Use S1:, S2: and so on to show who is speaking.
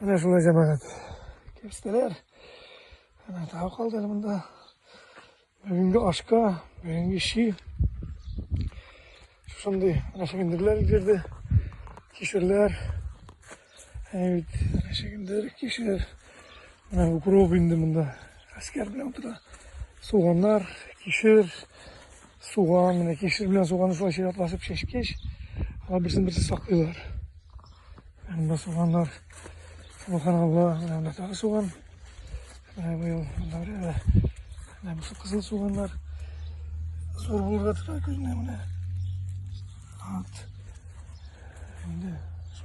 S1: Менә шулай җәмәгать. Керстеләр. Менә тау калды монда. Бүгенге ашка, бүгенге ши. Шундый рәшегендерләр өлгерде. Кишерләр. Әйт, рәшегендер, кишер. Менә укроп инде монда. Әскәр белән утыра. Суганнар, кишер. Суган, менә кишер белән суганы шулай чиратлашып чәчкәч, алар берсен берсе саклыйлар. Монда суганнар, субханалла, менә монда тагы суган. Менә быел монда да менә бусы кызыл суганнар. Зур булырга тора күзенә менә. Вот. Şimdi